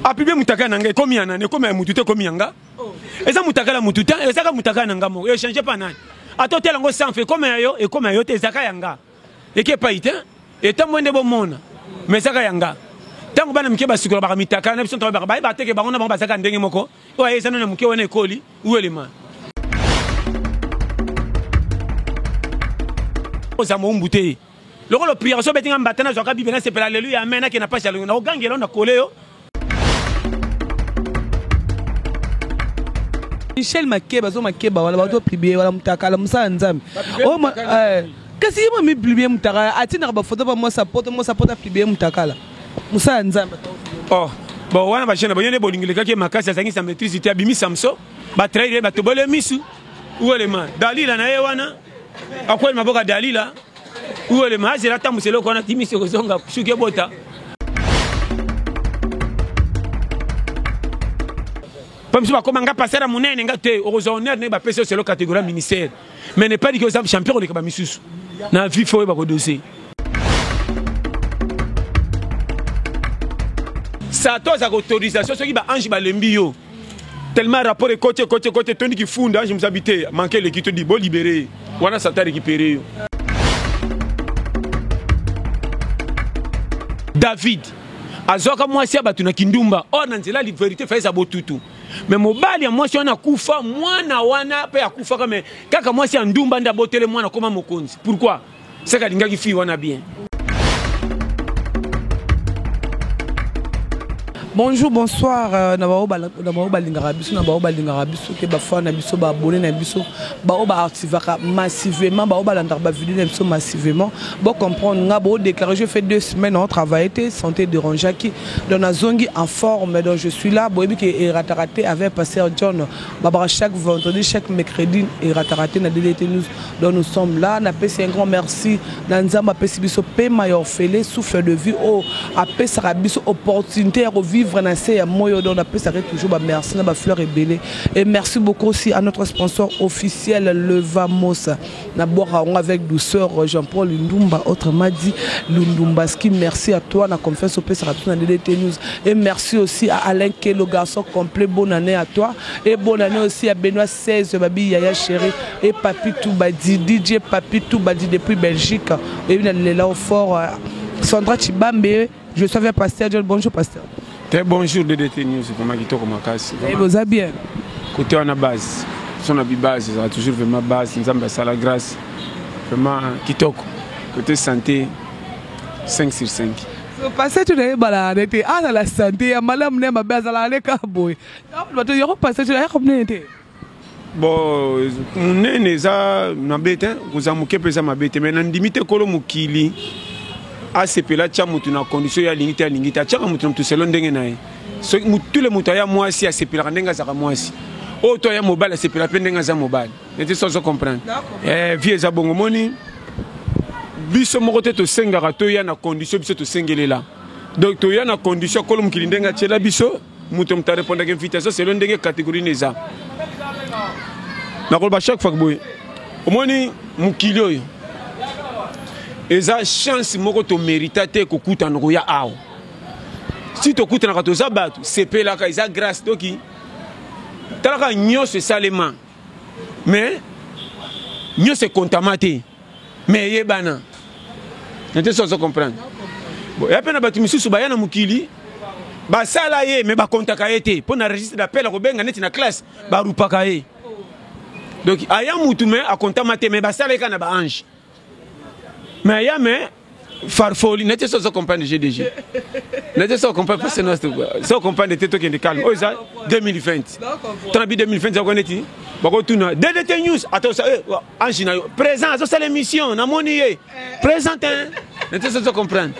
apibie mutakala na nga ekomi ya nani ekomi ya mutu te ekomi ya nga oh. eza mutakala mutu te ezaka mutakala na nga moko echange pa nani ata otela yango sanfe ekoma ya yo ekoma ya yo te ezaka ya nga eke epai te etambo nde bomona ma ezaka ya nga ntango bana mike basikola baka mitakala na biso ntango baka bayeba teke bango na bango bazaka ndenge moko oyo aye eza nano ya moke wana ekoli uelema oza mowumbu te lokola opriaka so obeti nga mbata nazwaka bible nasepela aleluya amen nakenda mpasi ya longo na ogangela na kole yo michel makeba azo makeba wana bato publie wana mutakala mosala nzambe oh, eh, kasi ye mami publie mutakala atindaka bafoto ba mwasi apoto mwasi apoto apublie mutakala mosala nzambe oh, bon wana bajene bayo nde bolingi lekaki makasi azangi sa maîtrise te abimi samso batraire ye batobole misu uelema dalila na ye wana Akweli maboka Dalila uwele mazela atambwisa eloko wana timisi okozonga suki ebota mpo misu bakoma nga passer ya monene nga te okozwa honneur ndenge bapesi yo selo catégorie ya ministère mais ne pas dike oza champion koleka bamisusu na vie fo oyeba kodose sato azaka autorisation soki baange balembi yo tellement rapport ekoti ekoti ekoti etondi kifunda ange mosabi te manke eleki todi bolibere wana sata récupéré yo david azwaka mwasi ya bato na kindumba or na nzela verité faisa botutu me mobali ya mwasi wana akufa mwana wana mpe akufaka me kaka mwasi ya ndumba nde abotele mwana akoma mokonzi pourquoi seka alingaki fille wana bien bonjour bonsoir euh, na baoyo balingaka biso na baoyo balingaka biso te bafana na biso baabone na biso baoyo baactivaka massivement baoyo balandaka bavideo na biso massivement bocomprendre nga boodéclare je fait deux semaines en travaille te santé dérangeaki donc nazongi en forme donc je suis là boyebi ke erataka te avec pasteur john babaka chaque vendredi chaque mercredi erataka te na ddt news Donc nous sommes là, na pesi un grand merci na Nzambe apesi biso pema ya ofele souffle de vie o apesaka biso opportunité ya ko vivre na se ya moyo donc na pesaka toujours ba merci na ba fleurs ebele et merci beaucoup aussi à notre sponsor officiel Levamos na bwaka ngo avec douceur Jean-Paul Ndumba autrement dit Lundumbaski merci à toi na confiance opesaka biso na DDT News et merci aussi à Alain Kelo garçon complet bonne année à toi et bonne année aussi à Benoît 16 babi yaya cheri et papi tubadi dj papi tubadi depuis belgique oyebi na lela au fort euh, sandra chibambe je suis avec pasteur john bonjour pasteur te bonjour ddt news vraiment kitoko makasi eh, boza bien kote wana base so na bibase ezala toujours vraiment base nzambe asala grâce vraiment kitoko kote santé 5 sur 5 pasteur tu nayebalaka nde te azala santé ya malamu na ya mabe azalaka nde kaka boye bato yako passage na yaka monene te bon monene eza mabe te kozala moke mpe eza mabe te mai nandimi te kolo mokili asepela atya motu na condition ye alingi te alingi te atyaka motu na motu selo ndenge na ye soki motule moto aya mwasi asepelaka ndenge azalaka mwasi oyo to aya mobali asepelaka mpe ndenge aza mobali neti so azo comprendre eh, vie eza bongo moni biso moko te tosengaka toya na condition biso tosengelela donc toya na condition kolo mokili ndenge atyela biso moto moto arepondaka invitation selo ndenge catégorie na eza nakoloba chaque fois boye omoni mokili oyo eza chance moko tomerita te kokutana koya awa si tokutanaka toza bato sepelaka eza grâce toki talaka nyonso esalema mais nyonso ekontama te mais eyebana nete so ozo comprendre ya mpe na bato misusu baya na mokili basala ye mais bakontaka ye te mpo na registre d'appel akobenga neti na classe barupaka ye donc aya mutu mais akontama te mais basala ye kaka na baange Mais ya mais farfoli na te sozo comprendre GDG na te sozo comprendre parce que sozo comprendre te to kende calme oyo eza 2020 tana bi 2020 za kone ti bako tuna DDT news ato sa eh, ange na yo présent azo sala émission na moni ye présent hein na te sozo comprendre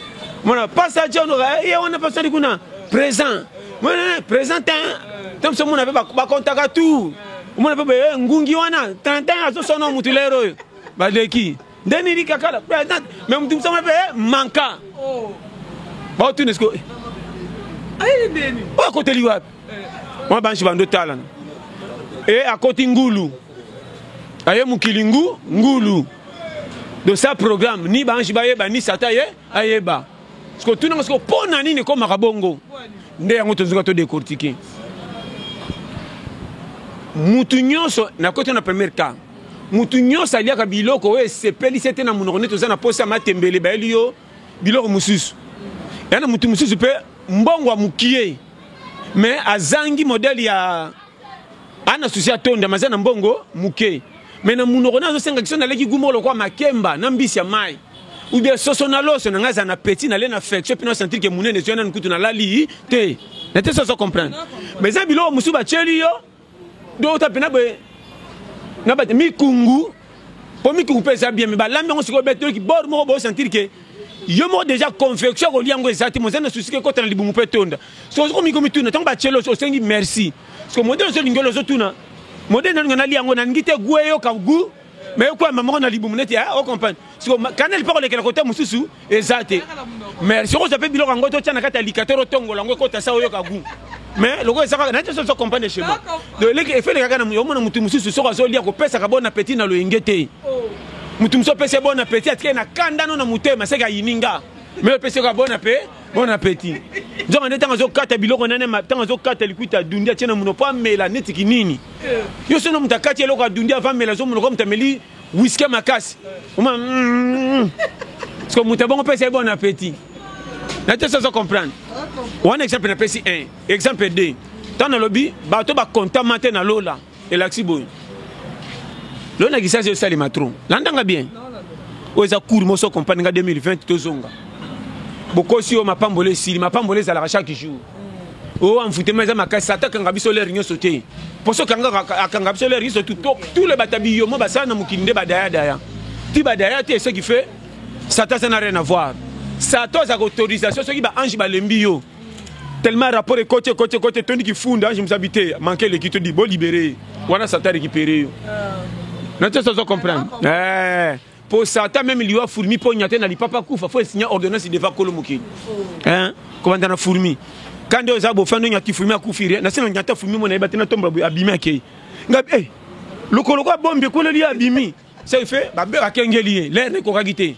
mona pasa John ye wana pasa ni kuna présent mona présent hein tam so mona ba kontaka tout mona pe ngungi wana tantan azo sona mutu lero yo baleki nde nini kakala me moto mosama mpe eh, manka oh. baotuna siko oyo akoteli wapi mwa banshi bando talana e eh, akoti ngulu aye mokili ngu ngulu de sa programme ni banshi bayeba ni sata ye ayeba Siko tuna nga siko pona nini ko makabongo? Nde yango tozuka to décortiquer. Mutu nyonso na koto na premier cas. Mutu nyonso aliaka biloko oyo esepeli se te na munoko nde toza na posa matembele bayeli yo biloko mususu. Yana mutu mususu pe mbongo ya mukie mais azangi modèle ya ana susi atonda maza na mbongo muke me na munoko na azosenga kiso naleki gumo lokwa makemba na mbisi ya mai ubia soso na loso na ngai aza na petit nale na affection mpe na sentir ke munene ezwi nanu kutu nalali te na te soso comprendre me eza biloko mosusu batyeli yo do ota mpe na boye na bate mikungu mpo mikungu mpe eza bien me balambi yango sikoyo betoli kibor moko bosentir ke yo moko deja confection kolia yango eza te moza na susi ke ekota na libumu mpe etonda so ozokomi komituna ntango batyeli osengi merci siko modele ozolingi olo ozotuna modele nalinga nalia yango nalingi te gu eyoka gu me ekwamba moko na libumu neti ah, ocomprendre siko kaneli mpe kolekela kote mosusu eza te merci okozwa mpe biloko yango totya na kati ya likatere otongola yango ekota sa oyoka gu mais lokola eza kaka nati soso comprendre chez moi donc eleki efeleka kaka omona motu mosusu soko azolia kopesaka bon appétit na loyenge te oh. mutu musu opesi bon appetit atikali na kanda no na motema seke ayini nga me opesi yoka bon ape bon appetit nzoka nde ntango azokata biloko nane ntango azokata likuta adundi atie na mono mpo amela neti kinini yo sono moto akati eloko adundi ava amela zo monoko moto ameli wiske makasi oma mm. sko moto abongo pesa ye bon appetit na te sozo comprendre wana exemple napesi 1 exemple 2 ntango nalobi bato bakontama te na lola Elakisi boye. Lelo na kisasa esalema trop. Landa nga bien. Oyo eza cours moso comprendre nga 2020 tozonga. Bokosi yo mapambola esili, mapambola ezalaka chaque jour. Oh, en fouté, mais ma casse, attaque en gabiso l'air, n'y sauté. Pour ce qu'en gabiso l'air, ils sont tout, tout le batabillo, moi, ça, n'a moukin de badaya, daya. Ti badaya, tu es ce qui fait, ça, ça n'a rien à voir. Ça, toi, ça, autorisation, ce qui va ange, balembio. tellement rapport ekoti ekoti ekoti etondi kifunda ange mosabi te manke eleki todi bo libere ye wana sata récupéré yo ah. na ntoso ozo comprendre eh, po sata meme liwa fourmi mpo nyate na lipapa kufa fo esinya ordonnance deva kolo mokili oh. kobanda na fourmi kande oyo eza bofando nyati fourmi akufi rien nasi na nyata fourmi mona yeba te natombola boye abimi akei nga eh, lokoloko abombi ekweleli abimi Ce qui fait, Babel a kengeli ye, l'air ne kokaki te.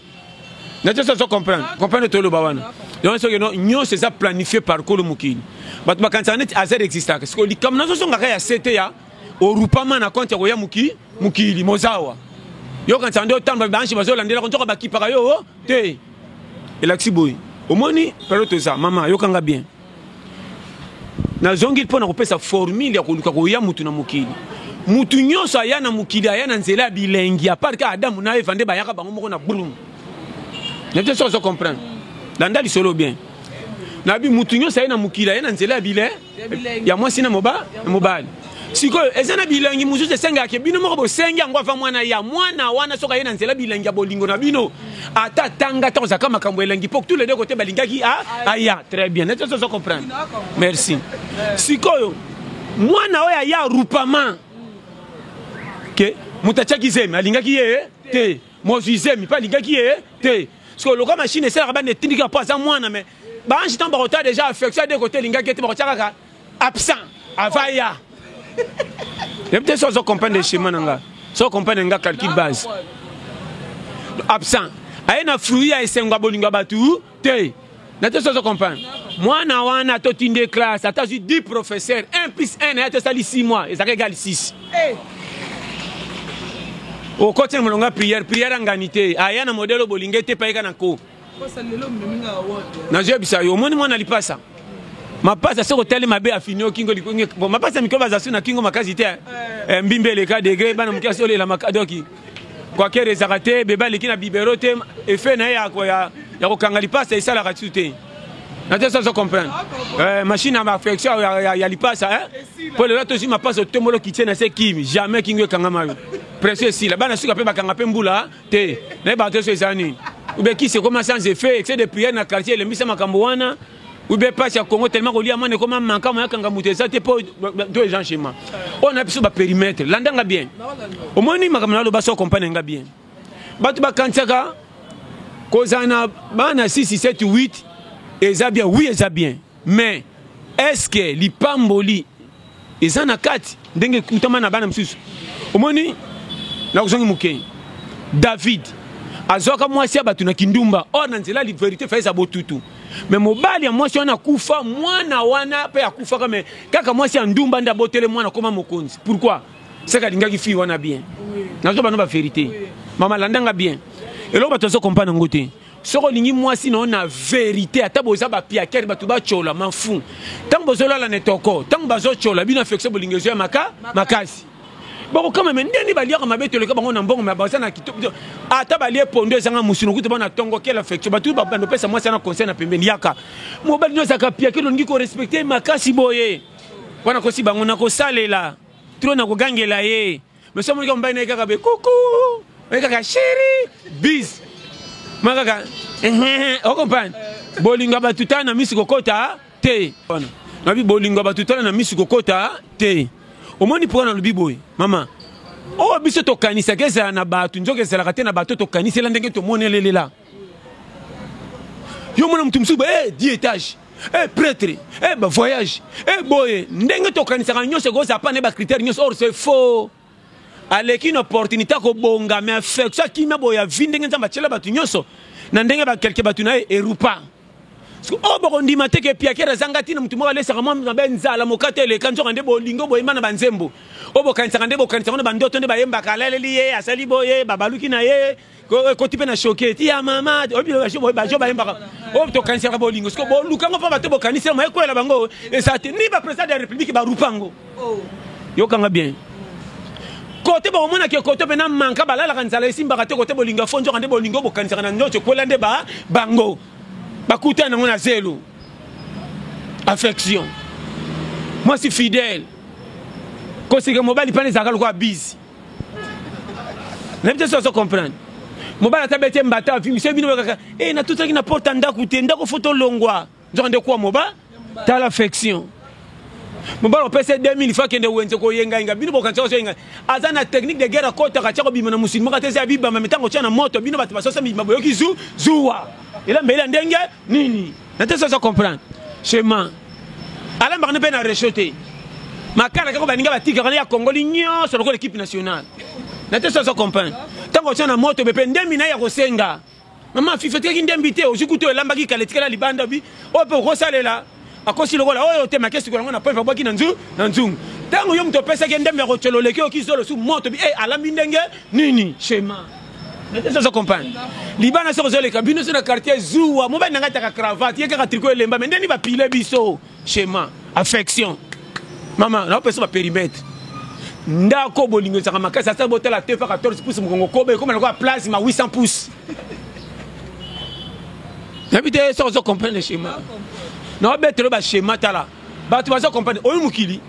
Na tesa so comprendre, comprendre to loba wana. Donc ce que non, nyo c'est ça planifié par Kolo Mukini. But ma kanisa net azer exista. Parce que likam na so songa ya CT ya orupama na compte ya koya muki mukili mozawa. Yo kanisa ndio tamba banshi bazo landela kontoka bakipaka yo oh, te. Elakisi boy. Omoni période toza mama yokanga bien. nazongi mpo na kopesa formule ya koluka koya mutu na mokili mutu nyonso aya na mokili aya na nzela ya bilengi apart ka adamu na eva nde bayaka bango moko na brum nete soki ozo comprendre landa lisolo bien nabi mutu nyonso aye na mokili aye na nzela ya bile ya mwasi na mobali sikoyo eza na bilangi mosusu esengaka ke bino moko bosengi yango ava mwana ya mwana wana soki aye na nzela bilangi ya bolingo na bino ata atanga ta kozaka makambo elangi po tous les deux kote balingaki ah, ah, aya très bien neti ozo comprendre merci sikoyo mwana oyo aya rupama ke moto atiaki zemi alingaki ye eh? te mozwi zemi mpe alingaki ye eh? te sikoyo lokola mashine esalaka bana etindika mpo aza mwana me baange ntango bakotala deja affection ya de kote elingaki ete bakotia kaka absent avaya yebi te so ozo comprendre schéma na nga so comprendre nga calcul base absent aye na fruit ya esengo ya bolingo ya bato te na te so ozo comprendre mwana wana totinde classe ata azwi 10 professeur 1 plus 1 na ye tosali 6 mois ezalaka egali 6 okoti na molongo ya prière prière angani te aya na modele obolinga ete payeka na ko nazoyebisa yo omoni mwana lipasa mapasa soki otali mabe afini yo kingo bon mapasa mikolo baza su na kingo makasi te eh. Eh, mbimbi eleka degre bana moke asi olela makadoki kwakere ezaka te beba aleki na bibero te efe na ye ya kokanga lipasa esalaka tu te naza soso comprendre ah, eh, machine ya affection ya lipasa mpo lelo tozwi mapasa otombolo kitie na se kimi jamais kingo ekangama yo presio esila bana suka mpe bakanga mpe mbula te naye banto so eza nini ube kisi ekoma sans effet excès de prière na quartier elembisa makambo wana ube pasi ya congo tellement kolia mwana ekoma manka moyakanga moto eza te mpo to eza nchema oyo na biso baperimetre landanga bien omoni makambo naloba so compagne nga bien bato bakanisaka kozala na bana 6 7 8 eza bien wi eza bien Mais est ce que lipamboli eza na kati ndenge ekutama na bana mosusu omoni na kozongi moke david azwaka mwasi ya bato na kindumba or na nzela verité faisa botutu me mobali ya mwasi wana akufa mwana wana mpe akufaka me kaka mwasi ya ndumba nde abotele mwana akoma mokonzi pourkui seke alingaki fille wana bien nazo bana baverité mama landanga bien eloko bato azo kompana yango te soki olingi mwasi na yo na verite ata boza bapiakere bato batyola mafu ntango bozolala na etoko ntango bazotyola bino afektio bolingi ezo ya maka makasi bakokama me ndeni baliaka mabe toleka bango na mbongo me baza na kitoko ata balie pondo ezanga mosuni okuta bana tongo kela affection bato babanda opesa mwasi ana conseil na pembeni yaka mobali nyonso aka piake longi korespecte makasi boye wana kosi bango nakosalela tro nakogangela ye Mais somo nika mbaye naye kaka be coucou, naye kaka chérie, bis. Ma kaka, eh, eh, eh, comprendre? Bolinga batutana na misi kokota te. Wana. Nabi bolinga batutana na misi kokota te. Omoni pourquoi nalobi boye? Mama, oyo oh, biso tokanisaka ezala na bato nzoka ezalaka te na bato tokanisela ndenge tomonelelela yo mona moto mosusu e di etage e pretre e bavoyage e boye ndenge tokanisaka nyonso ekozala mpa na ye bacritère nyonso or c'est faux aleki une opportunité akobonga mais affection akima boye ya vi ndenge nzambe atyela bato nyonso na ndenge bakelke bato na ye erupa oyo oh, bokondima te ke piakere azanga ntina motu moko alesaka mwa mabe nzala mokate eleka nzoka nde bolingo boyemba na banzembo oyo oh, bokanisaka nde bokanisaka na bandoto nde bayembaka alaleli ye asali boye babaluki na ye ekoti mpe na shoke ti ya mama bajo bayembaka oyo oh, tokanisaka bolingo siko boluka yango mpo bato bokanisi yango ekwela bango eza te ni baprésident de la république barupa yango oh. yokanga bien kote bakomonaka ekoto mpe na manka balalaka nzala esimbaka te kote bolingo afo nzoka nde bolingo bokanisaka na nzoto ekwela nde bango bakutani yango na zelo affection mwasi fidèle koseka mobali mpana ezalaka lokola bise nayebi te soki ozo comprendre mobali ata bete mbata api miso bino bakaka e eh, natutaki na porte ya ndako te ndako fo tolongwa nzoka nde kuwa moba tala affection mobali opesa 2000 fa kende wenze koyengayenga bino bokanisa kozoyenga aza na technique de guerre akotaka tya kobima na mosili moko ata eza ya bibamba mitango tya na moto bino bato basosa mibima boyoki zu zuwa ela mbeli ya ndenge nini na te sozo comprendre chemin alambaka ne mpe na recho te makala kaka baninga batikaka ne ya kongoli nyonso lokola ekipe nationale na te sozo comprendre ntango otya na moto be mpe ndembi na ye ya kosenga mama fifi otikaki ndembi te ozwi kutu elambaki kala etikala libanda bi oyo mpe okosalela akosi lokola oyo te make sikola yango na poipe abwaki na nzungu na nzungu ntango yo moto opesaki ndembi ya kotyololeki oki zolo su moto bi e eh, alambi ndenge nini chema ozo comprendre libana soki ozoleka bino so na quartier zuwa mobali na ngai ataka cravate ye kaka triko elemba me ndeni bapile biso chema affection mama naopesa baperimetre ndako bolingo ezaka makasi asala botala te pa 14 pouce mokongo koba ekoma lokola place ma 800 pouce nayebi te soki ozo comprendre chema naobetelo bachema tala bato bazo comprendre oyo mokili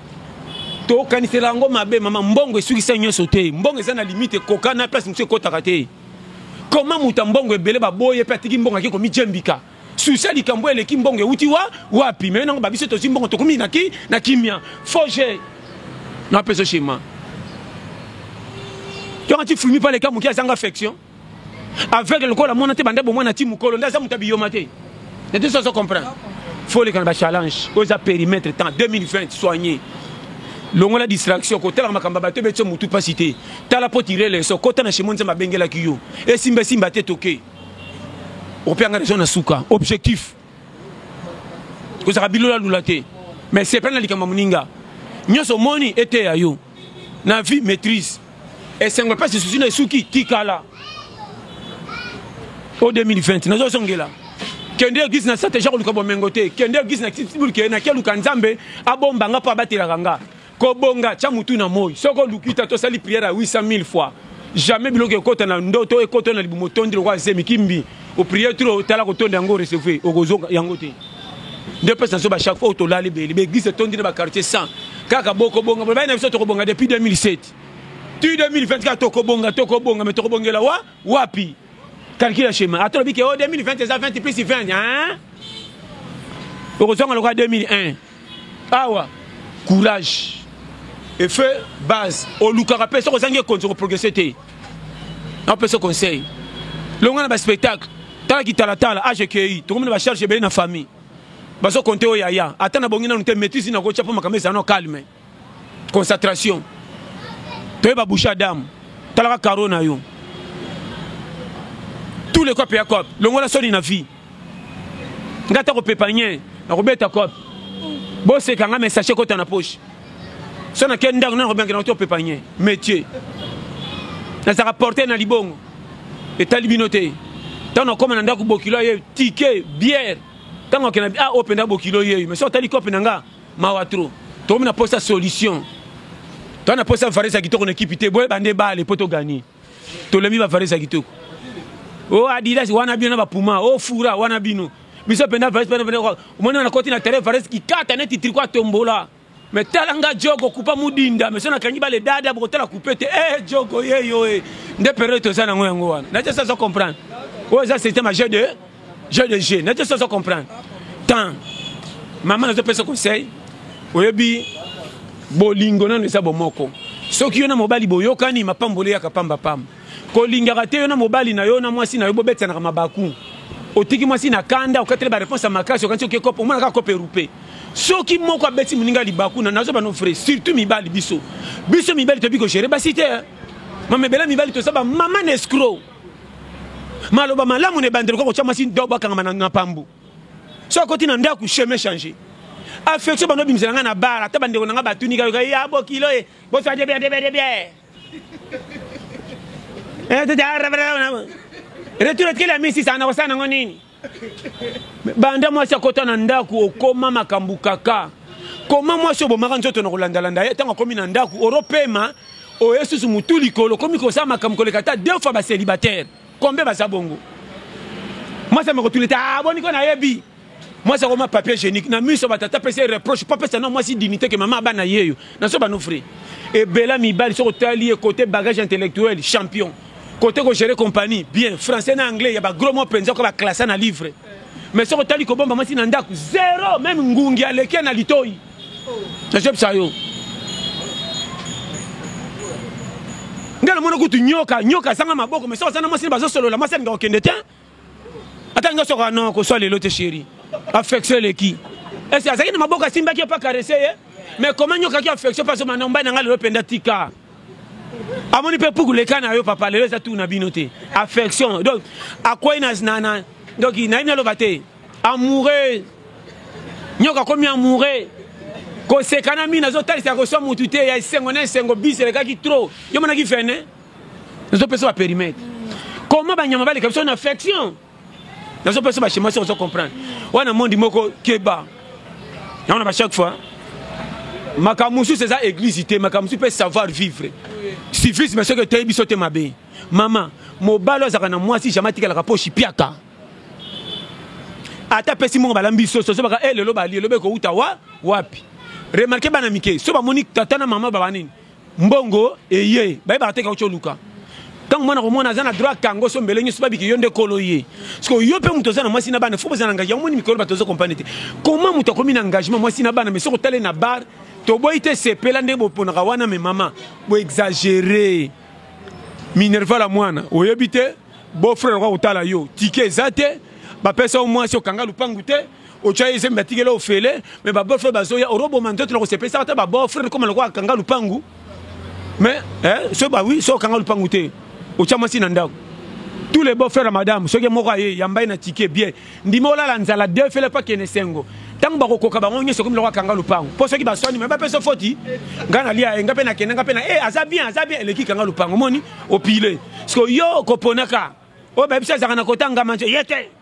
tokanisela yango mabe mama mbongo esukisa nyonso te mbongo eza na limite ekoka na place mosusu ekotaka te koma moto ya mbongo ebele baboye mpe atiki mbongo ake komijembika susi ya likambo eleki mbongo euti wa wapi me nango babiso tozwi mbongo tokomi na, ki, na kimia foge napeso shema yonga ti fulmi pale ka moke azanga affection aveugle lokola mwana te banda bomwana ti mukolo nde aza moto ya biyoma te nete soso comprendre foleka na bachallenge oyo eza périmètre temps 2020 soigné longola distraction kotalaka makambo ya bato ebetisa motu mpasi te tala mpo tire leso kota na shemo nzambe abengelaki yo esimba esimba te toke opianga raison na suka objectif kozalaka bilolalula te mais sepela na likambo ya moninga nyonso omoni eteya yo na vie maîtrise esengo epasi esusi na esuki tikala o 2020 nazozongela kende eglise na sate ja koluka bomengo te kende eglise na kisibulke na keluka nzambe abomba nga mpo abatelaka nga kobonga tya motu na moi soki oluki ta tosali priere ya 800 000 fois jamais biloko ekota na ndoto ekota na libumu otondi lokola zemi kimbi o prier trop tala ko tonda yango recevre okozonga yango te nde pesa nso ba chaque fois otolali beli ba église etondi na ba quartier 100 kaka boko bonga bana na biso tokobonga depuis 2007 tu 2024 tokobonga tokobonga mais tokobongela wa wapi calcule schéma ata lobi ke o 2020 eza 20 plus 20 hein okozonga lokola 2001 Awa courage et feu base olukaka pe soki ozangi ekonzi ko progresser te na pesa conseil longa na ba spectacle tala kitalatala age ekei tokomi na ba charge ebele na famille bazo compter oyo yaya ata na bongi nanu te maîtrise na ko tia po makambo ezala no calme concentration toyeba bouche ya dame talaka caro na yo tous les cope ya cope longola soni na vie nga ata kopepa nye nakobeta cope boseka nga mesache kota na poche so nake ndako nana kobiangela koto opepa nye métier nazalaka porte na libongo etali bino te ntango nakoma na ndako bokilo ye tike biere ntango akenda ah oyo mpenza bokilo yeyo mais so otali kope na nga Mawa trop. Tokomi na posa solution. Toi na posa Varese ya kitoko na ekipi te. Boye bande bale po to gagner. Tolembi ba Varese ya kitoko. Oh Adidas wana bino na ba Puma. Oh Fura wana bino. Biso penda Varese penda penda. Omoni na koti na terrain Varese kikata neti triko atombola. me tala nga jogo kupa mudinda me so nakangi bale dada bokotala kupe te e jogo yeyo e nde periode toza nango yango wana naje sazo comprendre oyo eza système age de jeu de jeu nete soso comprendre temps mama nazopesa conseil oyebi bolingo nano eza bomoko soki yo na mobali boyokani mapamboli eyaka pamba pamba kolingaka te yo na mobali na yo na mwasi na yo bobetanaka mabaku otiki mwasi na kanda okateli bareponse ya makasi okanisi oke kope omona kaka kope erupe soki moko abeti moninga libaku na nazoba no vrai surtout mibali biso biso mibali toyebi kogere basi te mamebela mibali toza bamama na escro maloba malamu na ebandelo kaka kotya mwasi dobo akangama na pambu so akoti na ndako chemin change affection bando obimisela ngai na bar ata bandeko na ngai batuni kayoka ya ah, bokilo ye boswa debia debia debia eh, retour etikeli ya misisa nakosala nango nini banda mwasi akota na ndako okoma makambo kaka koma mwasi obomaka nzoto na kolandalanda ye ntango akomi na ndako oropema oye susu motu likolo okomi kosala makambo koleka ata deux fois bacelibataire kombe baza bongo mwasi amekotuleta aboni ah, ko nayebi mwasi akoma papier génique na miso batata apesi ye reproche mpo apesa na mwasi dignité ke mama abana ye yo naso bano frais ebela mibali soki otali ye kote bagage intellectuel champion Kote ko gérer compagnie bien français na anglais ya ba gros mots penza ko ba classa na livre. Mais soko tali ko bomba masi na ndaku zero même ngungi aleki na litoyi. Na job sa yo. Ngana mona kutu nyoka nyoka sanga maboko mais soko sana masi bazosolola masi alinga kokende te. ata nga soka non koswa lelo te chéri affection eleki esi azalaki na maboko asimbaki yo mpe akarese ye mais koma nyokaki affection mpe azomana mbai na ngai lelo mpenza tika amoni mpe puku leka na yo papa lelo eza tu na bino te affection donc akwei na donc nayebi naloba te amoureux nyoka akomi amoureux kosekana mingi nazotalisa ya koswa motu te ya esengo na esengo bis elekaki trop yo monaki vene nazopesa ba perimetre comment banyama baleka biso na affection nazopesa bashema se ozo comprendre wana mondi moko keba yango na ba chaque fois makambo mosusu eza église te makambo mosusu mpe savoir vivre civisme soki eteyi biso te mabe mama mobali azalaka na mwasi jamai atikalaka mpo shipiaka ata apesi mongo balambi soso so baka e eh, lelo bali elobe kouta wa wapi remarke bana mike so bamoni tata na mama baba nini Mbongo eye bayebaka te kauti oluka ntango mwana komona aza na droit akango so mbele nyonso babiki yo nde kolo ye sikoyo yo mpe moto oza na mwasi na bana fo boza na ngai yango moni mikolo bato ozo kompane te koma moto akomi na engagement mwasi na bana meso kotale na bar toboyi te sepela ndenge boponaka wana me mama boexagere minerva la mwana oyebi te beau frère akoka kotala yo tike eza te bapesa yo mwasi okanga lupangu te otya ye zemi batikela ofele me babofre bazoya oroboma nzoto na kosepelisa ata babofre ekoma lokola akanga lupangu me eh, so bawi so okanga lupangu te otya mwasi na ndako tous les bofrere ya madame soki moko aye yamba ye na tike bie ndimi olala nzala defele mpo akende esengo ntango bakokoka bango nyonso ekomi loko akanga lupangu mpo soki baswani me bapesa foti ngai nalia ye ngai mpe nakende ngai mpe na e eh, aza bien aza bien eleki kanga lupangu omoni opile siko yo koponaka oyo bayebisi azalaka na kotangama ye te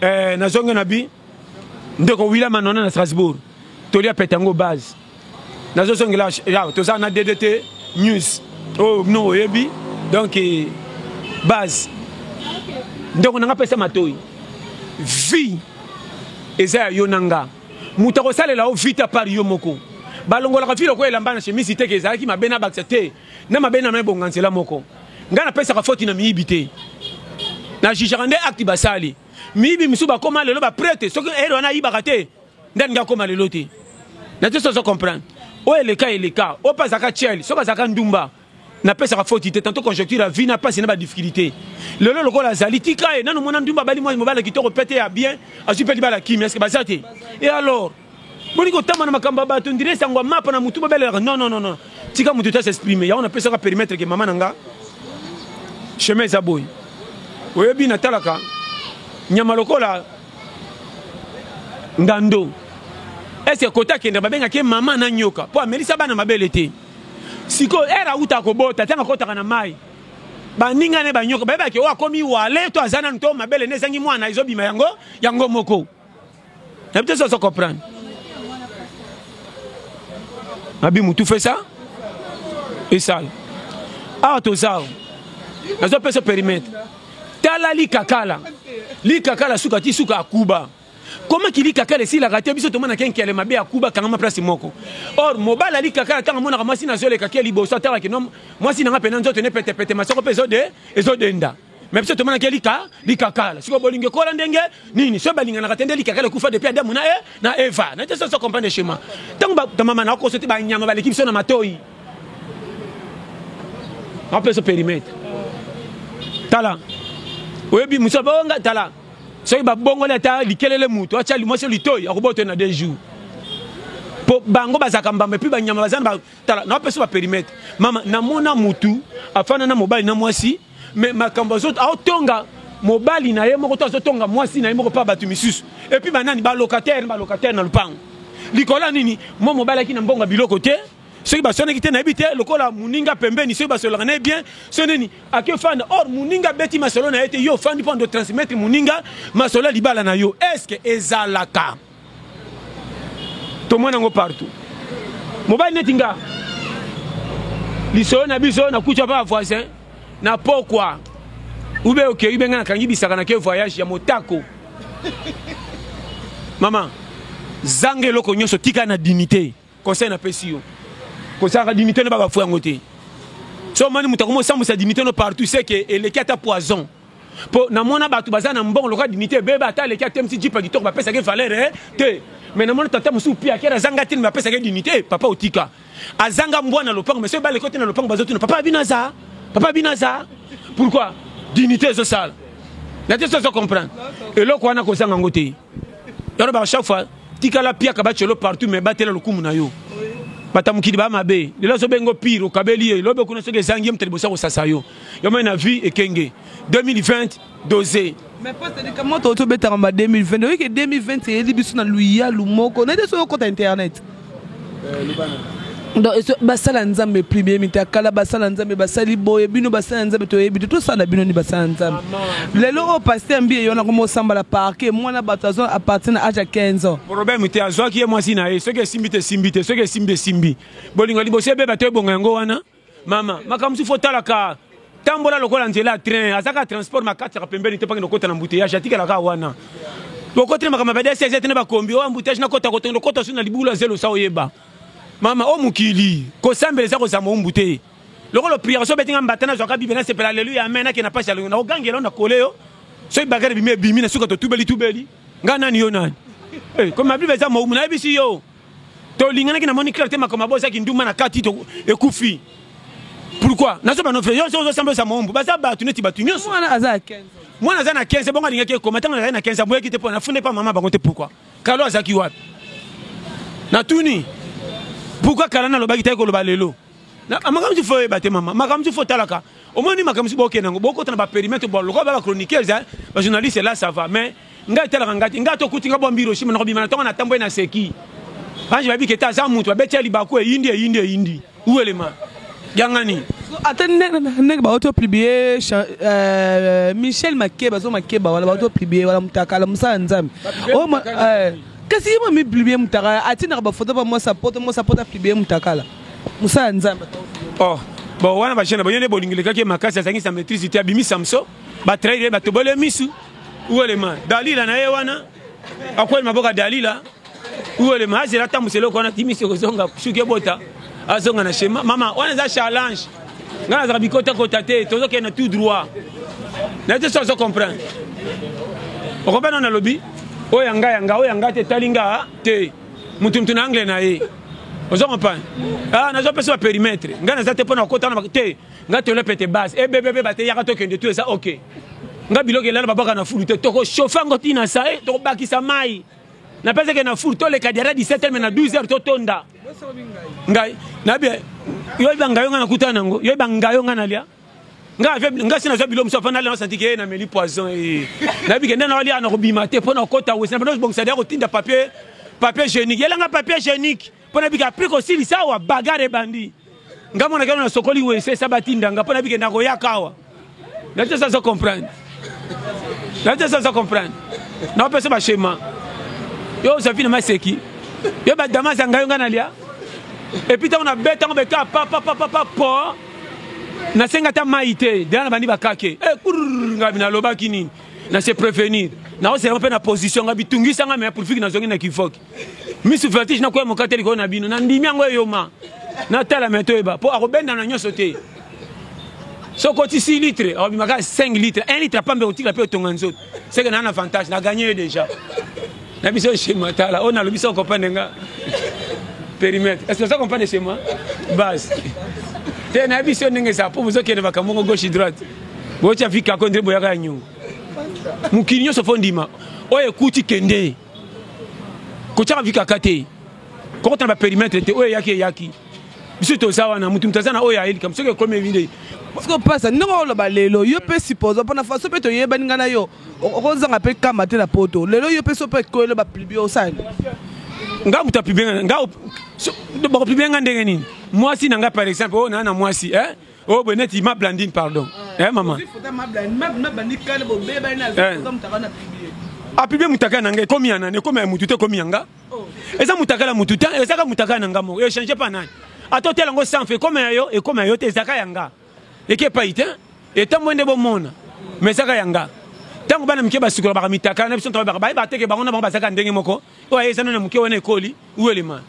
eh, nazongi na bi ndeko william anona na strasbourg toli apeta yango base nazozongela yaw toza na ddt news oyo oh, bino oyebi donc eh, base ndeko na nga pesa matoi vie eza ya yo na nga moto akosalela yo vita par yo moko balongolaka vi lokola elamba na chemisi teke ezalaki mabe na bakisa te Na mabe na me bonga nzela moko. Nga na pesaka foti na miyibi te. Na jugera nde acte basali. Miyibi misu ba koma lelo ba prete soki ero na yibaka te. Nda nga koma lelo te. Na te sozo comprendre. O eleka eleka. O pa zaka chel. Soka zaka ndumba. Na pesaka foti te. Tanto conjoncture a vie na pasi na ba difficulté. Lelo loko la zali. Tika e. Nanu mona ndumba bali mwa mobala kitoko pete ya bien. Asu peli bala kimi. Eske bazate. E alors. boni kotamba na makambo ya bato ndire sango ya mapa na motu babelelaka non non non tika moto ta s'exprime yango napesaka perimetre ke mama na nga chemin eza boye oyebi natalaka nyama lokola ndando eske kota akenda babengaki mama na nyoka mpo amelisa bana mabele te sikoyo ere auta kobota ntango akotaka na mai baninga ne banyoka bayebaki oyo oh, akomi wale to aza nanu to mabele nde ezangi mwana ezobima yango yango moko nayebi te soso comprendre abi mutu fait ça esala awa toza awa nazopesa perimetre tala likakala likakala suka ti suka akuba koma kilikakala esilaka te biso tomonaka enkele mabe ya kuba kangama place moko or mobali alikakala ntango amonaka mwasi nazoleka ke liboso atalaki no mwasi nanga mpena nzoto ne petepete masoko mpe ezodenda me biso tomonaki lika likakala sikoyo bolingo ekola ndenge nini soki balinganaka te nde likakala ekufa depuis adamu na, e, na eva na te soso comprendre chemin ntango bamama na okoso te banyama baleki biso na matoi apeso perimetre tala oyebi mosu abonga tala soki babongoli ata likelele moto atya mwasi litoi akobota na deux jours mpo bango bazalaka mbamba epuis banyama baza na tala na pesa ba perimetre mama na mona mutu afana na mobali na mwasi mais makambo azo aotonga mobali na ye moko to azotonga mwasi na ye moko mpa bato misusu epuis banani balocataire na balocataire na lopango likolo ya nini mwa mobali aki na mbongo ya biloko te soki baswanaki te nayebi te lokola moninga pembeni soki basololaka na ye bien so nini ake ofanda or moninga abeti masolo na ye te yo ofandi mpo ando transmettre moninga masolo ya libala na yo estce ezalaka tomona yango partout mobali neti nga lisolo na biso nakuti apa ba voisin na pokwa ube okei ube ngai nakangi bisaka na ke voyage ya motako mama zanga eloko nyonso tika na dignité Conseil na pesi yo. Kozalaka dignité no baba fou yango te. So mani moto akomi osambwisa dignité no partout c'est que eleki ata poison. Po na mona bato baza na mbongo lokola dignité bebe ata aleki atemisi jipa kitoko bapesaki valeur eh, te. Mais na mona tata mosusu pia kera azanga tini bapesaki dignité papa otika. Azanga mbwa na lopango mais soki baleki ote na lopango bazotuna papa bino aza papa bino aza pourquoi dignité ezosala. Na te sozo comprendre. Eloko wana kozanga ngo te. yaro ba chaque fois tikala piaka bacelo partout mais batela lokumu na yo bata mokili ba mabe lelo azobengo pire okabeli ye lobe kuna soki ezangi ye moto liboso akosasa yo yomai na vie ekenge 2020 dose mais poste de kamoto otobetaka ba 2020 oyeke 2020 eyeli biso na luyalu moko nayete soki okota internet Donc basala nzambe plus bien mita kala basala nzambe basali boye bino basala nzambe toyebi te tosala bino ni basala nzambe lelo oyo pasteur mbi eyona komo sambala parke mwana bato azo apartir na age ya 15 ans problème te azwaki ye mwasi na ye soki esimbi te esimbi te soki esimbi esimbi bolingo liboso ebeba to ebonga yango wana mama makambo mosusu otalaka tambola lokola nzela ya train azaka transport makataka pembeni te mpakende okota na mbuteyage atikalaka wana okotele makambo ya badss ete na bakombi oyo mbuteyage nakota kotondo kota su na libulu ya zelo sa oyeba mama o mokili kosambela eza kozama ombu te lokola opriere so obeti nga mbata nazwaka bibe nasepela aleluya amen ake na pasi alongo nakogangela yo na kole yo soki bagare bimi ebimi na suka totubeli tubeli nga nani yo nani eh, komi mabible eza moumu nayebisi yo To linganaki na moni clair te makambo ya boza kindumba na kati to ekufi. Pourquoi? Nazo ba nofre yo zo samba za mombo baza batu neti batu nyoso. Mwana aza 15. Mwana aza na 15 bongo alingaki ekoma tango na na 15 amboyaki te pona fune pa mama bango te pourquoi? Kalo azaki wapi? Na tuni pourquoi kala na lobaki te ko loba lelo? makambo mosusu fo oyeba te mama makambo mosusu fo otalaka omoni makambo mosusu bokenda yango bokota na baperimetre bo lokola ba bachroniqueurs eh, bajournaliste la ça va mais ngai etalaka ngai te ngai tokuti ngai bwambi hiroshima nakobima na ntongo na ntambo ye na seki banji bayebi kete aza moto babeti ya libaku eyindi eyindi eyindi uelema yangani ata ndenge bauti opublie euh, michel makeba zo makeba wana bauti opublie wana motakala mosala nzambe Kasi ye mami publie mutakala atindaka ba photo ba mwasi ya poto mwasi ya poto publie mutakala mosala ya nzambe oh bon wana ba jeune ba yende bolingi lekaki makasi azangi sa maîtrise te abimi samso ba trahir ba tobole misu uelema dalila na ye wana akweli maboka dalila uelema azela tambusela ko wana timisi kozonga suki ebota azonga na shema mama wana eza challenge nga nazaka bikotakota te tozokende tout droit na te so azo comprendre okoba nano nalobi oyo ya nga ya nga oyo ya nga te etali nga te motu motu na angle na ye ozo comprendre ah nazopesa baperimetre ngai naza te mpo na kokota na te ngai tolepete base ebebebe bateyaka tokende tu eza ok ngai biloko elala babwaka na fulu te tokochauffe yango ntina sa tokobakisa mai na pesa ke na four to leka diara 17 heures na 12 heures to tonda ngai na bien yo ba ngayo ngana kuta nango yo ba ngayo ngana lia nga ave nga sina zo bilo musafa na lana santi ke na meli poison e na bi kenda na wali ana ko bima te pona kota wesi na pona bongisa dia ko tinda papier papier hygiénique yela nga papier hygiénique Mpo na bika apres kosilisa awa bagare ebandi nga mwana kano nasokoli wese sa batinda nga mpo na bike nakoyaka awa nati esa azo comprendre nati esa azo comprendre naopesa bashema yo ozapina maseki yo badama za ngai yo ngai nalia epuis ntango nabeta yango beka papapapapa po nasenga ata mai te dela nabandi bakake e eh, kurr ngai nalobaki nini na se prevenir naozelaka mpe na position ngai bitungisa ngai me profiki nazongi na kivoki misu vertige nakoya mokate likolo na bino nandimi yango eyoma natala me toyeba mpo akobenda na nyonso te soki oti 6 litre akobima kaka 5 litre 1 litre apambe kotikla mpe otonga nzoto seke naa na avantage naganye ye déjà na biso chez moi tala oyo nalobi soko comprendre nga périmètre est ce que oza comprendre chez moi base te na biso ndenge eza mpo bozokende makambo moko gauche droite boyotya vikako nde boyaka ya nyongo mokili nyonso fo ndima oyo ekuti kende kotyaka vi kaka te kokota na baperimetre te oyo eyaki eyaki biso toza wana motu motu aza na oyo ayelika soki ekomi ebi nde siko pasa ndenge oloba lelo yo mpe suppose mpona faso mpe toyebani ngai na yo okozanga mpe kama te na poto lelo yo mpe so mpe ekoyelo baplibi osali nga moto apibe nga nga bakopibie nga ndenge nini mwasi na nga par exemple oyo oh, naa na mwasi eh? Oh, ben net, il m'a blandine, pardon. Eh, eh maman. apibe eh. mutaka na ngai ekomi ya nani ekomi ya mutu te ekomi ya nga oh. eza mutaka na mutu te ezaka mutaka na nga moko echange pa nani ata otela yango sanfe ekoma ya yo ekoma ya yo te ezaka ya nga eke epai te etambo nde bomona ma ezaka ya nga ntango bana mike basukolaka mitaka na biso ntango bayebaka bayeba teke bango na bango bazaka ndenge moko oyo aye eza nani ya moke wana ekoli welema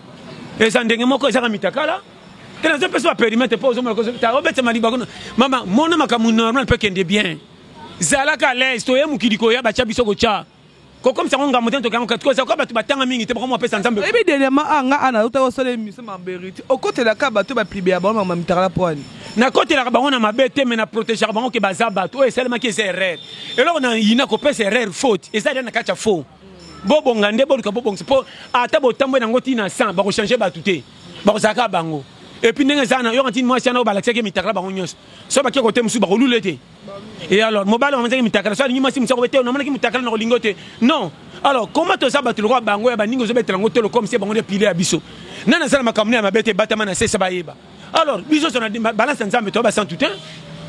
eza ndenge moko ezaka mitakala te nazo pesa ba perimetre mpo ozomona kozota obetama liba kuna mama mona makambo normal mpe kende bien zalaka à l'aise toye mokili koya batya biso kotya kokomisa yango ngambo te ntoki yango kati kozala kwa bato batanga mingi te bakomi bapesa nzambe oyebi dernièrement a ah, nga ana auta kosala émission ma berite okotelaka bato baplibe ya bango mama mitakala mpo ani nakotelaka bango na mabe te me na protegaka bango ke baza bato oyo esalemaki eza erreur eloko na yina kopesa erreur faute eza lia na kati ya faux Bobonga nde boluka bobongisa po ata botambwe nango ti na 100 bako changer batu te bakozala kaka bango et puis ndenge eza na yoka ntini mwasi yana oyo balakisaki mitakala bango nyonso so bake kote mosusu bakolula ete et alors mobali bamanzaki mitakala so alingi mwasi mosusu akobe te namonaki mitakala na kolingo te non alors koma toza bato lokola bango ya baningi ozobetela yango tolo comme se bango nde pile ya biso nani aza na makambo ne ya mabe te ebatama na sesa bayeba alors biso so na balance ya nzambe toya basantu te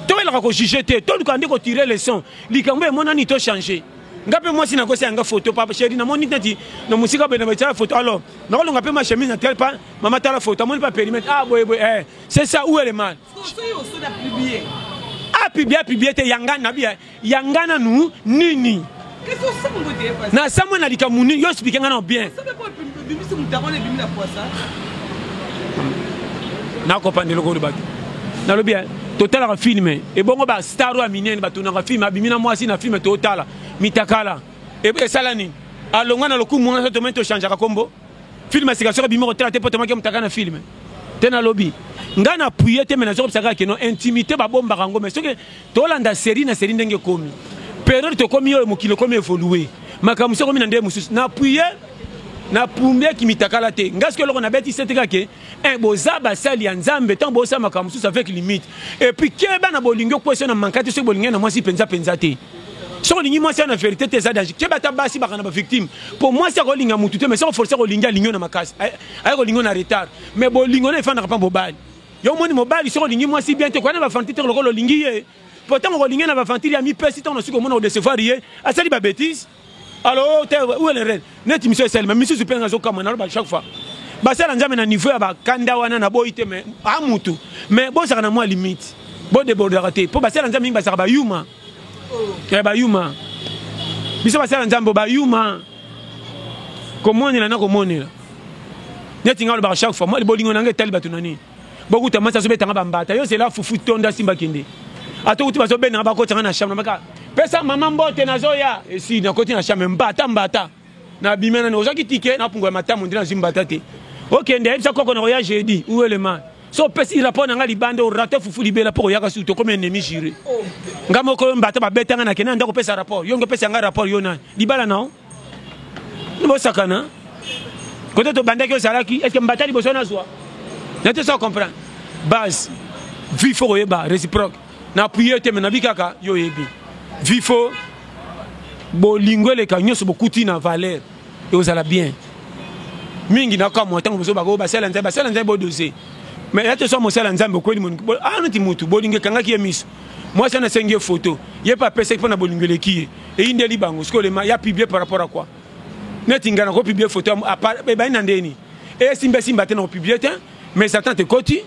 toyelaka kojuge te toluka nde kotire leson likambo emonani tochange nga mpe mwasi nakosi yanga foto papa sheri namoni neti na mosika boye na batya foto alors nakolonga mpe machemise na tel pa mama tala foto amoni pa perimètre ah boye boye eh c'est ça où est le mal apibia apibia te yanga nabi ya nga nanu nini nasambwe na likambo nini yo explike nga nao bien nakopanda eloko olobaki nalobi eh, totalaka filme ebongo bastar oyo ya minene batunaka filme abimi na mwasi na filme totala mitakala esala nini alongwa na lokumu wana tomai tochangeaka nkombo filme sika soki abimi kotala te mpo tomaki mutaka na filme te nalobi ngai na puye te me nazoki bisaka keno intimité babombaka yango me soki Tolanda serie na serie ndenge ekomi. Periode tokomi oyo mokili ekomi evolue. Makambo mosusu ekomi na ndenge mosusu. Na appuye na pumbe kimitakala te ngai soki eloko nabeti sete kaka ke eh, boza basali ya nzambe ntango bosala makambo mosusu avec limite epuis keba na bolingi okwesi na manka te soki bolingi na mwasi mpenza mpenza te soki olingi mwasi ya na verité te eza danger keba ata basi bakana bavictime mpo mwasi akolinga motu te mais soki oforce akolingi alingi yo na makasi aye kolingi yo na retard mais bolingo na efandaka mpa bobali Yo omoni mobali soki olingi mwasi bien te koya na ba aventure te lokola olingi ye po ntango kolingi na ba aventure amipesi ntango nasuki omona kodecevoir ye asali ba betise alo te uelere neti miso esalema misusu mpe azokama naloba chaque fois basala nzambe na niveau ya bakanda wana na boyi te me a mutu me bozaka na mwa limite bodebordaka te mpo basala nzambe mingi bazaka bayuma eh, bayuma biso basala nzambe bayuma komonela na komonela neti nga olobaka chaque fois bolingo na nga etali bato na nini bokuta mwasi azobetanga bambata yo zela fufu tonda simba kende ata okuti bazobendanga bakotanga na chambre maka pesa mama mbote nazoya esi nakoti na chambre mbata mbata Na bima nani ozaki ticket na pungu ya matamu ndina zwi mbata te. Okende ayebisa koko na koya jeudi ou le man. So pesi rapport na nga libanda o rate fufu libela po koyaka su tokomi ennemi jure. Nga moko yo mbata ba beta nga na kenda ndako pesa rapport. Yo nge pesa nga rapport yo nani? Libala na o. Nibo sakana. Kote to bandaki ozalaki est-ce que mbata liboso na zwa? Na te so comprendre. Base. Vie faut koyeba reciproque. na appuye te me nabi kaka yo oyebi vifo bolingo eleka nyonso bokuti na valeur ekozala bien mingi nakamwa ntango mosusu bakoyo basala nzambe basala nzambe bodose mais ya tosa mosala nzambe okweli moniki ah neti mutu bolingo ekangaki ye miso mwasi wana asengi ye foto ye mpe apesaki mpo na bolingo eleki ye eyindeli bango sikoyo lema ya publie par rapport à quoi neti ngai nakopiblie foto ebandi na ndeni esimbaesimba te nakopiblie te mais satan tekoti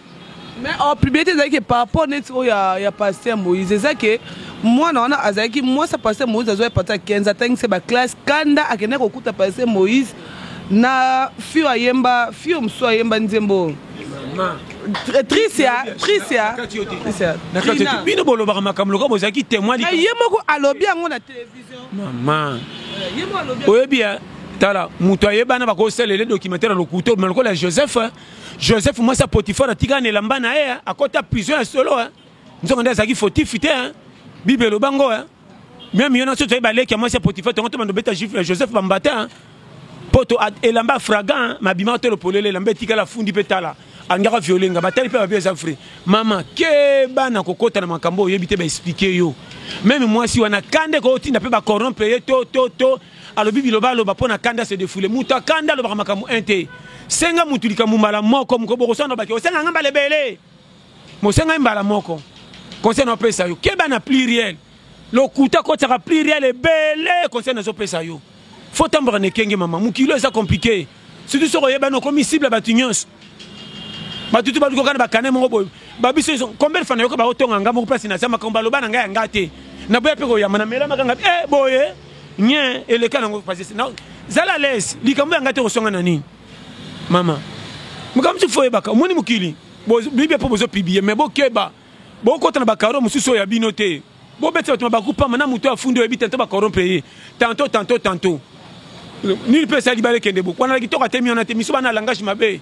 mais en publicité ezalaki ke par rapport neti oyo ya, ya pasteur moïse eza ke mwana wana azalaki mwasi ya pasteur moïse azwa ye pata 15 atangisi ba classe kanda akende kokuta pasteur moïse na fio ayemba fio mosusu ayemba nzembo oyo bino bolobaka makambo lokola bozalaki témoin ye moko alobi yango na télévision mama oyebi ya tala moto ayebana bakosalela documentaire ya lokuta obima lokola joseph joseph mwasi ya potifar atika na elamba na ye akota prison ya solo nzongo nde azalaki fotifi te bible eloba ngo meme yo nyonso toyebi baleki ya mwasi ya potifar tongo tomanda obeta eh, joseph bambata mpo to elamba fragan mabima tolo polele elamba etikala afundi mpe tala alingaka viole nga batali mpe babi eza vrai mama keba na kokota na makambo oyebi te baexplike yo meme mwasi wana kande kootinda mpe bacorrompe ye to to to Alobi biloba aloba mpo na kanda se defoule. Moto ya kanda alobaka makambo un te. Senga moto likambo mbala moko moko bokosana baki osenga nga mbala ebele. Mosenga ye mbala moko. Conseil na opesa yo keba na pluriel. Lokuta kotisaka pluriel ebele conseil na zo pesa yo. Faut tambola na ekenge mama. Mokili eza compliqué. Surtout soki oyebani okomi cible ya bato nyonso. Bato tu baluka na bakane moko boye. Babiso iso combien de fois nayoka baotonga nga moko place na zama komba loba na nga ya nga te. Na boya pe koyamba na mela makanga eh boye nye eleka nango pasese. Na zala les likambo ya nga te kosonga na nini. Mama. Makambo tu foye baka omoni mokili. Bo bibi po bozo publier mais bokeba. Bokota na bakaro mosusu ya bino te. Bobeti bato mabaku pamba na moto afundi oyebi tantôt ba corrompre ye tantôt tantôt tantôt nini pe esali bale kende bo kwana kitoko atemi wana te miso bana langage mabe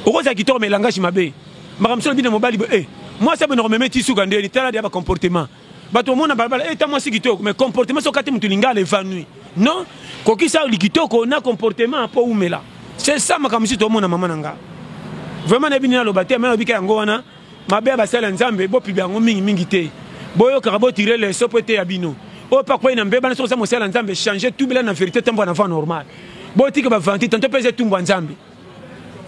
okozala kitoko mais langage mabe makambo solo bina mobali bo eh mwasi abona komeme ti suka ndeni tala dia ba comportement bato omona balabala eh ta mwasi kitoko mais comportement soki ate moto lingala evanui non kokisa likitoko na comportement po umela c'est ça makambo si tomona mama na nga vraiment nayebi nini aloba te mais nalobika yango wana Mabe ya basali ya Nzambe bopiba yango mingi mingi te. Boyokaka bo tirer leçon po eteya bino. Oyo pe akwei na mbeba na soki oza mosali ya Nzambe changer tubela na verite otambola na voie normale. Botika ba ventille tantot pe eza etumbu ya Nzambe.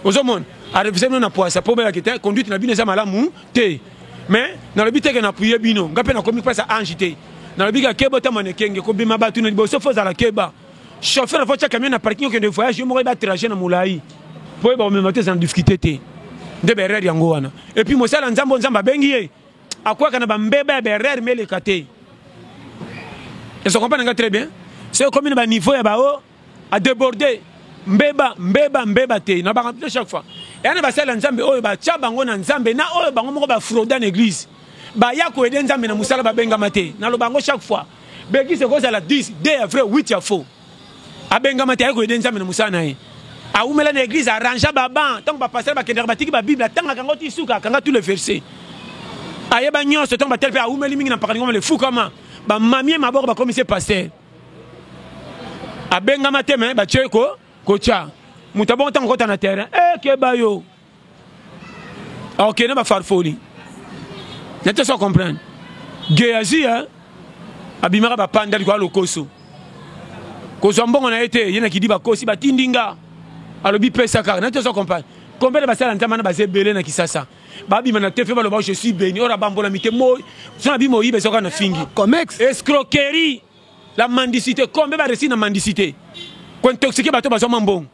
Ozomona? A reviser bino na puasa po boyeba ke te conduite na bino eza malamu te. Mais nalobi te ke na appuyer bino. Nga pe nakomi pesa ange te. Nalobi kaka keba otambola na ekenge kobima batu na liboso faut ozala keba. chauffeur faut tia camion na parking okende voyage yo moko yeba trajet na molai mpo oyeba komema te eza na difficulté te nde berere yango wana epuis mosali ya nzambe oyo nzambe abengi ye akwaka na bambeba ya berere ma eleka te ezo comprendre nga très bien soki ekomi na baniveau ya bao adeborde mbeba mbeba mbeba te na bakambi te chaque fois eya na basali ya nzambe oyo batya bango na nzambe na oyo bango moko bafroda na église baya koyede nzambe na mosala babengama te naloba yango chaque fois Bekisa ekozala 10, 2 ya vrai, 8 ya faux. Abengama te, aye koyede Nzambe na mosala na ye. Awumela na eglise, arrangea ba bancs, tango ba pasteurs bakendaka batiki ba bible, atangaka yango ti suka, akanga tous les versets. Ayeba nyonso, tango batali pe awumeli mingi na mpakani ngoma le fukama, ba mamie maboko bakomisi ye pasteur. Abengama te mais batye ko kotia. Moto abongo tango okota na terrain, eh keba yo. ok na bafarfoli na te so comprendre geazi ya eh? abimaka bapanda likolo ya lokoso kozwa mbongo na ye te ye na kidi bakosi batindi nga alobi pesa kaka na te so comprendre combien de basala ntama na baza ebele na kisasa babima na tefe baloba je suis béni oyo abambolami te moi so na bima oyiba ezoka na fingi comex escroquerie la mendicité combien baresi na mendicité kointoxike bato bazwama mbongo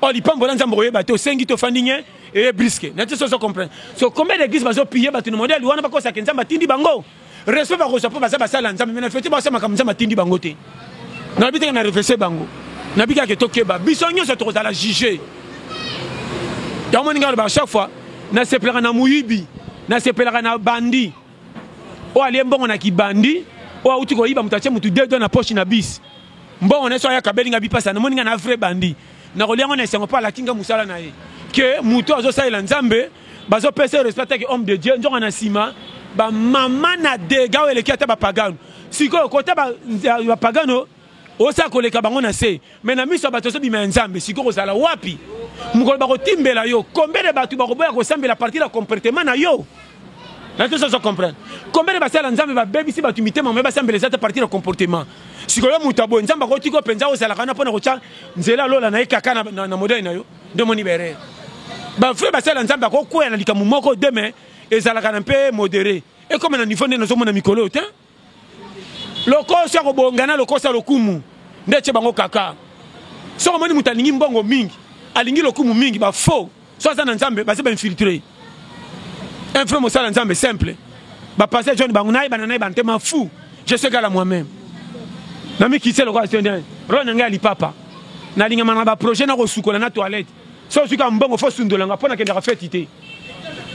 Oh, lipambo na nzambe koyeba te osengi te ofandi nye eye briske na te soso comprendre so combien d'église bazo pille bato na modèle wana bakosaka nzambe atindi bango respect bakozwa mpo baza basala ya nzambe me na fete baosa makambo nzambe atindi bango te nalobi teke na refese bango nabi kaka tokeba biso nyonso tokozala juge yango moninga aloba chaque fois nasepelaka na moyibi nasepelaka na bandi Oyo alie mbongo na kibandi, oyo awuti koyiba moto atie moto deux doigts na poche na bis. Mbongo na ye soki aya kabeli nga bipasa namoni nga na vrai bandi. Nakolia yango na esengo po alaki nga musala na ye. Que moto azo salela Nzambe bazo pesa ye respect atake homme de Dieu nzoka na sima ba mama na degat oyo eleki ata ba pagano. Sikoyo kota ba pagano Oza koleka bango na se mais na miso ya bato ozobima ya Nzambe sikoyo kozala wapi mokolo bakotimbela yo combien de bato bakoboya kosambela partir ya comportement na yo na tozo zo comprendre combien de basala Nzambe babebisi bato mitema mais basambela eza te partir ya comportement sikoyo moto aboye Nzambe akotika mpenza ozalaka wana mpo na kotya nzela lola na ye kaka na, na, na modele na yo nde omoni berere bavrai basala Nzambe akokwea na likambo moko deme ezalaka na mpe modere ekoma na niveau nde nazomona mikolo oyo te Lokoso ako bonga na lokoso ya lokumu nde tye bango kaka. Soko moni moto alingi mbongo mingi, alingi lokumu mingi ba faux. So aza na Nzambe baza ba infiltre. Un vrai mosala Nzambe simple. Ba pasteur John bango naye bana naye bante ma fou. Je suis gala moi-même. Na mi kisse lokola tende. Ro na ngai lipapa. Na linga mana ba projet na ko sukola na toilette. So suka mbongo fo sundolanga pona kendaka fete te.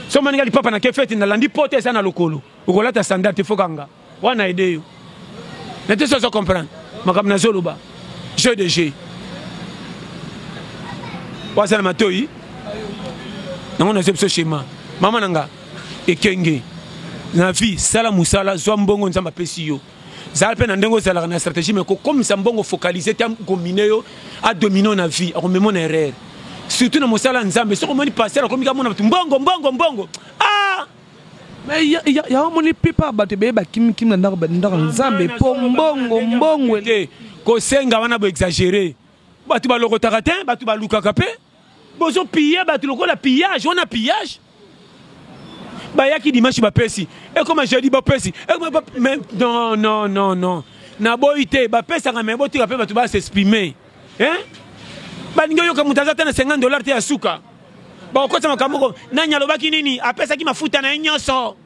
So mani ngai lipapa na ke fete na landi pote eza na lokolo. okolata sandal te fokanga wana aide yo na te sozo comprendre makambo nazoloba jeu de jeu waza na matoi yango nazwi biso shema mama na nga ekenge na vie sala mosala zwa mbongo nzambe apesi yo zala mpe na ndenge ozalaka na stratégie mai kokomisa mbongo focalise te akomine yo adomino na vie akomemo na erreur surtout na mosala ya nzambe soki omoni pasteur akomika mona bato mbongo mbongo mbongo ah! Mais ya omoni pipa bato ebeye bakimi kimi na ndako ndako ya Nzambe po mbongo mbongo te kosenga wana bo exagere bato balokotaka te bato balukaka pe bozo pille bato lokola pillage wana pillage bayaki dimanche bapesi ekoma jeudi bapesi non non non non naboyi te bapesaka me botika mpe bato ba s'exprime balingi oyoka moto aza te na 50 dollar te ya suka Bakokotisa makambo moko. Nani alobaki nini? Apesaki mafuta na ye nyonso.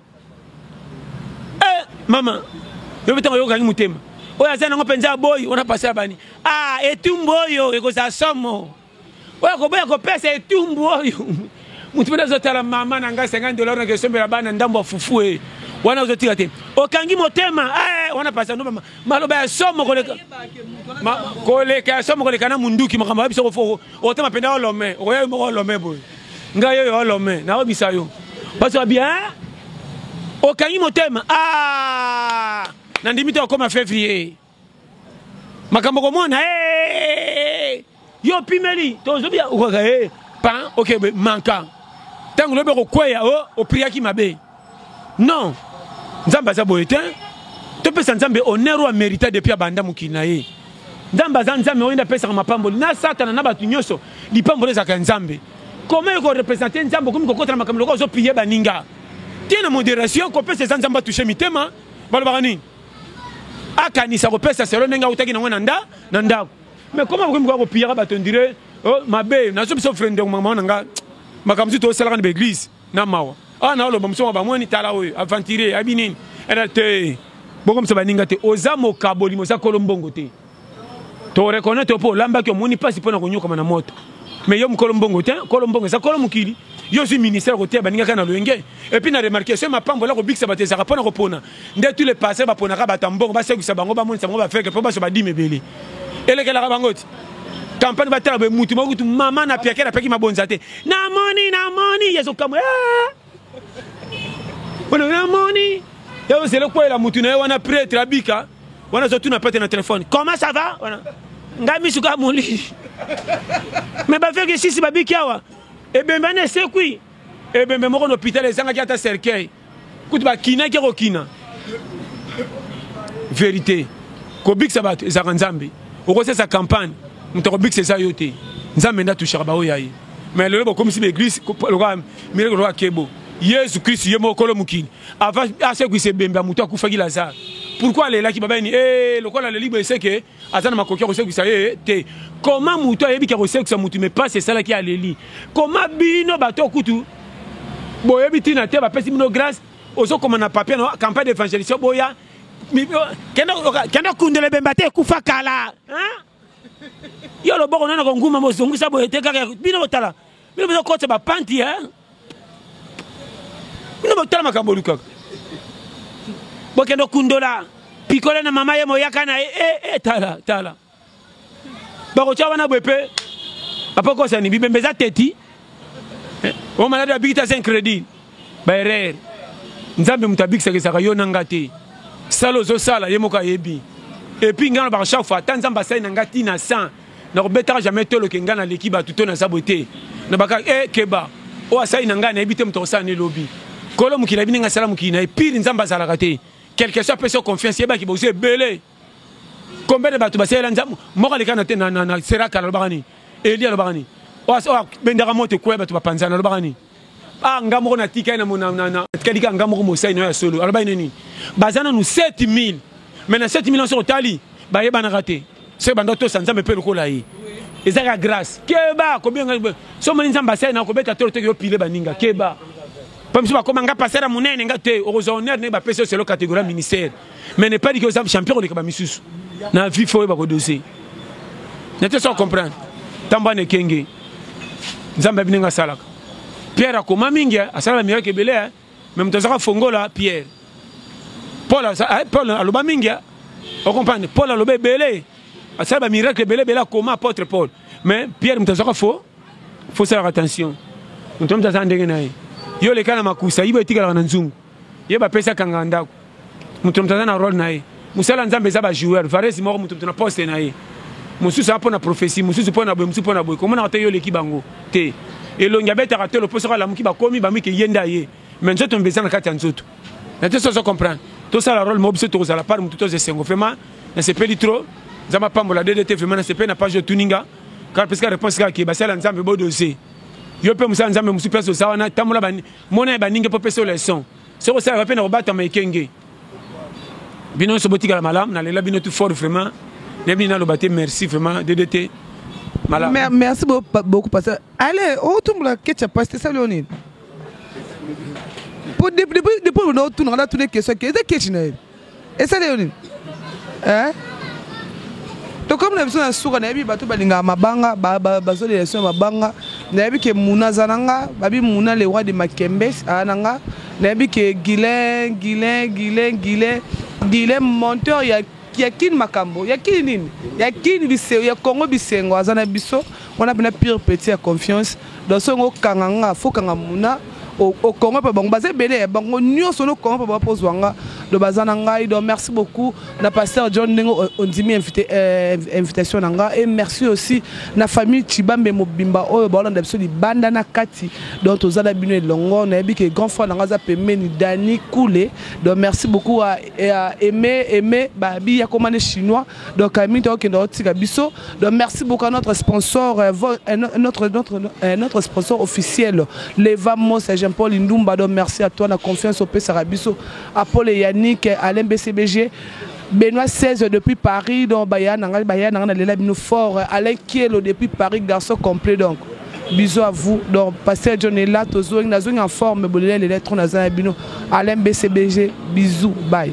Eh, mama, yo mpe ntango oyokangi motema oyo aza nango mpenza aboyi wana pasi abani ah, etumbu oyo ekozala somo oyo akoboya kopesa etumbu oyo motu mpe azotala mama na ngai 50 dollar nake esombela bana ndambo ya fufu e wana ozotika te okangi motema eh, wana pasi ando maloba ya somo koleka koleka ya somo koleka na munduki makambo ya biso Otema penda olome, okoya yo moko olome boye. Nga yo yo olome, na obisa yo. Basi wa bien. Okangi motema. Ah! Na ndimi te okoma février. Makambo komona eh! Yo pimeli, to zobi okoka eh! Pan, okay, manka. Tango lobi okokweya, oh, opriaki mabe. Non, Nzambe aza boye te. Topesa Nzambe honneur oyo merita depuis abanda mokili na ye. Nzambe aza Nzambe oyo nde apesaka mapamboli na Satana na bato nyonso. Lipamboli ezalaka ya Nzambe. Comment eko representer Nzambe okomi kokota na makambo lokola ozo piller baninga. Tia na moderation kopesa eza Nzambe atoucher mitema. Balobaka nini? Akanisa kopesa selon ndenge autaki na ngo na nda na ndako. Mais comment okomi koya kopillaka bato on dirait oh mabe nazo biso frende mama na nga makambo mosusu tosalaka na ba eglise. Na mawa awa na oloba musoma ba moni tala oyo aventurier abi nini era te bokomisa baninga te oza mokabolimo oza kolo mbongo te to reconnaitre opo olambaki omoni mpasi mpo na konyokama na moto mais yo mokolo mbongo te kolo mbongo eza kolo mokili yo ozwi ministère koteya baninga kaka na loyenge epuis na remarke soki mapambo ola kobikisa bato ezalaka mpo na kopona Nde tous les pasteurs baponaka bato ya mbongo basekwisa bango bamonisa bango bafeke mpo bazwa badime ebele elekelaka bango ti kampani batala boye mutu moko kutu mama na piakela apeki mabonza te namoni namoni yezokamwa wana namoni yozela okwela mutu na ye wana pretre abika wana azotuna pete na telefone comment ça va wana ngai misu kaka molili me bafeki sisi babiki awa ebembe wana esekwi ebembe moko na hôpital ezangaki ata cercueil kutu bakinaki ya kokina verite kobikisa bato ezalaka nzambe okosesa campagne moto akobikisa eza yo te nzambe nde atushaka baoyo ya ye me lelo bokomisi baeglise lokola mireke lokola kebo yesu kristu ye moko kolo mokili asekwisa ebembe ya moto akufaki lazare pourkui alelaki babeni e eh, lokola aleli boye seke aza na makoki ya kosekwisa ye eh, te koma motu ayebi ke akosekwisa motu me mpasi esalaki aleli koma bino bato kutu boyebi ntina te bapesi bino grâce ozokoma na papier na campagne d'évangélisation boya kende okundela ebemba te ekufa kala yo loboko nano konguma mozongisa boye te kaka bino botala bino bozokotisa bapanti eh? bino botala makambo olukaka bokende okundola pikole na mama ye moyaka na ye e, e, tala tala bakotya wana boye mpe apokosani bibembe eza teti eh, o maladi abikita se incrédit baerreur nzambe moto abikisaka ezaka yo na nga te sala ozosala ye moko ayebi epuis ngai nalobaka chaque fois ata nzambe asali na ngai ntina 100 Na ko betaka jamais tolo ke nga na leki batu to na za boye te. Na baka eh keba oyo asali na nga na yebi te moto akosala ne lobi. Kolo mokili ayebi ndenge asala mokili na ye pire nzambe azalaka te. Quelque soit apesi yo confiance yeba ke boza ebele. Combien de batu basalela nzambe moko aleka na te na na na seraka na lobaka nini? Elie alobaka nini? Oyo oyo abendaka moto ekweya batu ba panzana alobaka nini? Ah, nga moko natikali na mona na natikali kaka nga moko mosali na yo ya solo. Alobaki na nini? Baza nanu 7000. Mais na 7000 yango soki otali bayebanaka te. Soki banda otosa Nzambe mpe lokola ye. Ezaka grâce. Keba kobenga so moni Nzambe asali na kobeta tolo te yo pile baninga. Keba. Mpo biso bakoma nga passer ya monene nga te okozwa honneur ne bapesi yo selo catégorie ministère. mais ne pas dire que oza champion koleka ba misusu na vie faut oyeba kodose nete so comprendre ntango ana ekenge nzambe abi ndenge asalaka pierre akoma mingi asala bamiracle ebele eh. me moto azaka fongola pierre paul eh, aloba mingi eh. okomprendre paul aloba ebele asala bamiracle ebele ebele akoma apôtre paul mais pierre moto azaka fo fosalaka attention moto moto azala ndenge na ye yo oleka na makusa yibo etikalaka na nzungu Ye ba pesi akanga ndaku. Moto na moto aza na role na ye. Musala ya Nzambe eza ba joueur. Varese moko moto moto na poste na ye. Mosusu aza pona prophetie, mosusu pona boye, mosusu pona boye. Komonaka te yo oleki bango? Te. Elongi abetaka tolo po soki alamuki bakomi ba mike ye nde aye. Mais nzoto mbe eza na kati ya nzoto. Na te sozo comprendre. Tosala role moko biso tokozala par moto tozo esengo. Vraiment na sepeli trop. Nzambe apambola DDT vraiment na sepeli na page oyo otuni nga. Kaka pesi ka reponse kaka ke basali ya Nzambe bo doser. Yo pe mosali ya Nzambe mosusu place oza wana tambola ba Mona ya baninga po pesa leçon. Soki osala ba pe na kobatama ekenge. Bino nso botikala malamu na lela bino tout fort vraiment. Ne bino naloba te merci vraiment DDT. Malamu. Mer merci beaucoup pasteur. Allez, o tumbola ketcha pasteur sali onini? Po depuis depuis depuis na otuna na tuna question ke eza ketchi na ye. esali yo nini eh? tokomi na biso na suka nayebi bato balingaka mabanga bazolela biso ya mabanga nayebi ke muna aza na nga babi muna le roi de makembe aa na nga nayebi ke guilin guilin guilin guilin guilin monteur ya ya kini makambo ya kini nini ya kini bisengo ya congo bisengo aza na biso wana mpena pire petit ya confiance Donc soki ngo kanga nga faut kanga muna au, au Congo pe bango baza ebele eh, bango nionso no Congo pe bapo zwa nga do baza na ngai donc merci beaucoup na pasteur John ndenge ondimi invité euh, invitation na nga et merci aussi na famille Chibambe mobimba oyo baolanda biso libanda na kati donc toza na bino elongo nayebi ke grand frère na nga aza pembeni Dani Kule donc merci beaucoup à, à Aimé Aimé Babi Yakomane chinois Donc Camille donc kende otika biso. Donc merci beaucoup à notre sponsor euh, euh, notre notre euh, notre sponsor officiel Leva Mosa Jean-Paul Indumba donc merci à toi la confiance au Pesa biso Apollo Yannick Alain BCBG Benoît 16 depuis Paris donc baya nanga baya nanga lela bino fort Alain Kielo depuis Paris garçon complet donc bisous à vous donc pasteur John est là tozo na zo en forme bolele les lettres na za bino Alain BCBG bisous bye